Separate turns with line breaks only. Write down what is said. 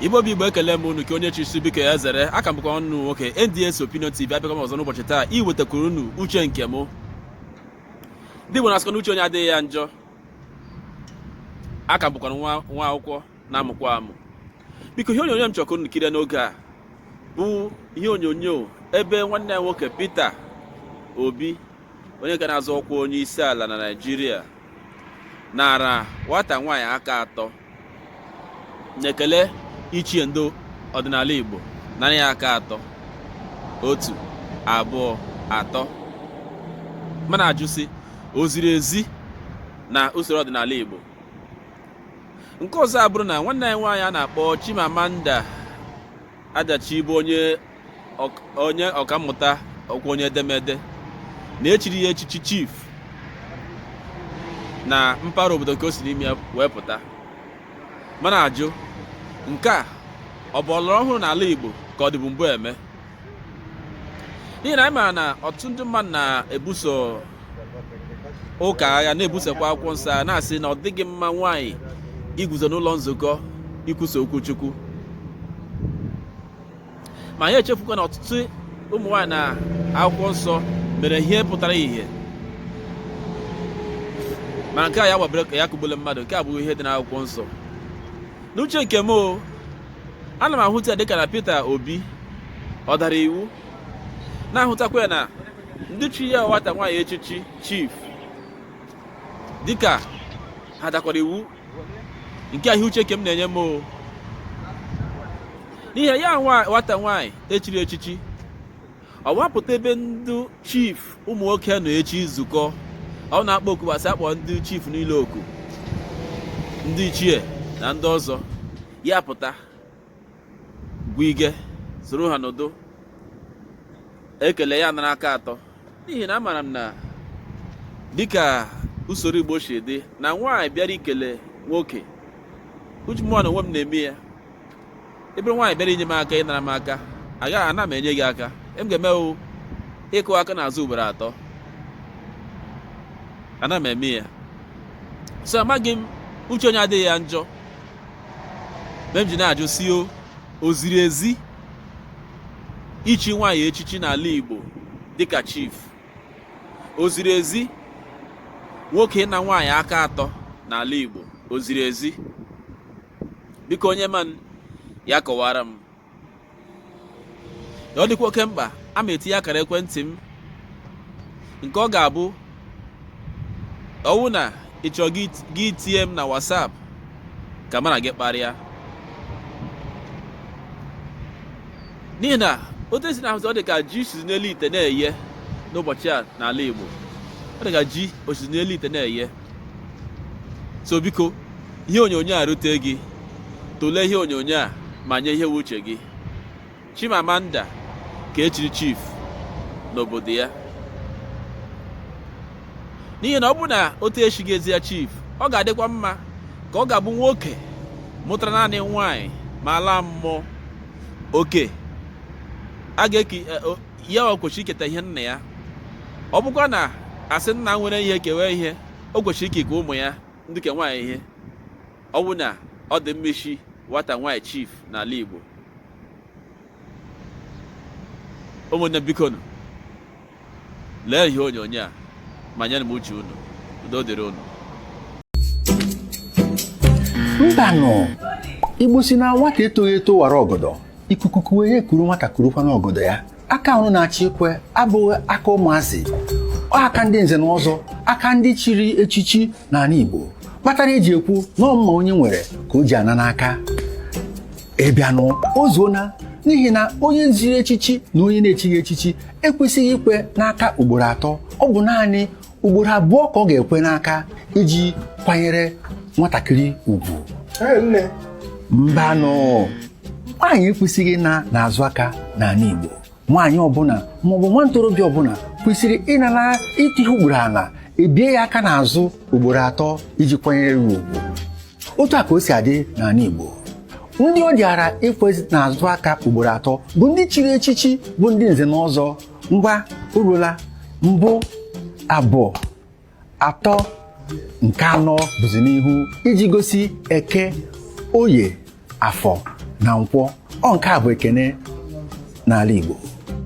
igbo bụ igbo ekele m unu ka onye chisi biko ya zere aka m bụkwanụ nwoke NDS Opinion TV abịakwa m ọzọ n'ụbọchị taa iwetakwuru unu uche nke m ndị Igbo na-asịkwa na uche onye adịghị ya njọ aka m bụkwa nwa akwụkwọ na-amụkwa amụ biko ihe onyonyo m chọrọ ka unu kirie n'oge a bụ ihe onyonyo ebe nwanne anyị nwoke Peter Obi onye ka na-azọ ọkwa onye isi ala na Naịjirịa nara nwata nwaanyị aka atọ n'ekele ichie ndị ọdịnala Igbo nara ya aka atọ otu abụọ atọ m na-ajụ sị o ziri ezi na usoro ọdịnala Igbo nke ọzọ abụrụ na nwanne anyị nwaanyị a na-akpọ Chimamanda Adichie bụ onye onye ọkammụta ọ bụkwa onye edemede na e chiri ya echichi chief na mpaghara obodo nke o si n'ime ya wee pụta m na-ajụ nke a ọ bụ ọlọrọ ọhụrụ n'ala Igbo ka ọ dịbu mbụ eme n'ihi na anyị maara na ọtụtụ ndị mmadụ na-ebuso ụka agha na-ebusokwa akwụkwọ nsọ na-asị na ọ dịghị mma nwaanyị iguzo n'ụlọ nzukọ ikwusa okwu Chukwu ma anyị echefukwa na ọtụtụ ụmụ nwaanyị na akwụkwọ nsọ mere ihe pụtara ihe ma nke a ya gbabere ka ya kụgbule mmadụ nke a bụ ihe dị n'akwụkwọ nsọ n'uche nke m o ana m ahụta ya dịka na Peter Obi ọ dara iwu na-ahụtakwa ya na ndị chi ya nwata nwaanyị echichi chief dịka ha dakwara iwu nke ahụ uche ke m na-enye m o n'ihi ya nwata nwaanyị e chiri echichi ọ wapụta ebe ndị chief ụmụ nwoke nọ echi nzukọ ọ wụ na akpọ oku gbasị akpọ ndị chief niile oku ndị ichie na ndị ọzọ ya pụta go i ga-esoro ha n'ụdị ekele ya nara aka atọ n'ihi na amara m na dịka usoro Igbo si dị na nwaanyị bịara ikele nwoke uche mụwa n'onwe m na-eme ya ị bụrụ nwaanyị bịara inye m aka ịnara m aka anaghị m enye gị aka ihe m ga-eme ọ ịkụ aka n'azụ ugboro atọ ana m eme ya so amaghị m uche onye adịghị ya njọ mere m ji na-ajụ sị o o ziri ezi ichi nwaanyị echichi n'ala Igbo dịka chief o ziri ezi nwoke ịna nwaanyị aka atọ n'ala Igbo o ziri ezi biko onye manị ya kọwara m ọ dịkwa oke mkpa a ma etinye akara ekwentị m nke ọ ga-abụ ọwụ na ị chọọ gị tinye m na WhatsApp ka mụ na gị kparịa n'ihi na otu e si na-ahụzi ọ dị ka ji o sizi n'elu ite na-eye n'ụbọchị a n'ala Igbo ọ dị ka ji o sizi n'elu ite na-eye so biko ihe onyonyo a rute gị tụlee ihe onyonyo a ma nye ihe wụ uche gị Chimamanda ka e chiri chief n'obodo ya n'ihi na ọ bụ na otu echighị ezi ya chief ọ ga-adịkwa mma ka ọ ga-abụ nwoke mụtara naanị nwanyị ma laa mmụọ oke a ga-eke ya o kwesịrị iketa ihe nna ya ọ bụkwa na a sị nna nwere ihe kewe ihe o kwesịrị ikenye ụmụ ya ndị ke nwaanyị ihe ọ bụ na ọ dị mma ichi nwata nwaanyị chief n'ala Igbo ụmụnne bikonụ lee ihe onyonyo a ma nyenụ m uche unu udo dịrị
unu mbanụ Igbo sị na nwata etoghị eto wara ọgọdọ ikuku kuwe ya ekuru nwata kurukwa n'ọgọdọ ya aka ahụ na-achị ekwe abụghị aka ụmụazị ọ aka ndị nze na ọzọ aka ndị chiri echichi n'ala Igbo kpatara e ji ekwu na ọ mma onye nwere ka o ji ana n'aka ịbịanụ o zuona n'ihi na onye chiri echichi na onye na-echighị echichi ekwesịghị ikwe n'aka ugboro atọ ọ bụ naanị ugboro abụọ ka ọ ga-ekwe n'aka iji kwanyere nwatakịrị ugwu mbanụ nwaanyị ekwesịghị ịna n'azụ aka n'ala Igbo nwaanyị ọbụla maọbụ nwa ntorobịa ọbụla kwesịrị ịnara ịtụ ihe ugboro ala e bie ya aka n'azụ ugboro atọ iji kwanyere ya ugwu otu a ka o si adị n'ala Igbo ndị ọ dịara ikwe n'azụ aka ugboro atọ bụ ndị chiri echichi bụ ndị nze na ọzọ ngwa orula mbụ abụọ atọ nke anọ bụzi n'ihu iji gosi Eke Oye Afọ na Nkwọ ọ nke a bụ ekene n'ala Igbo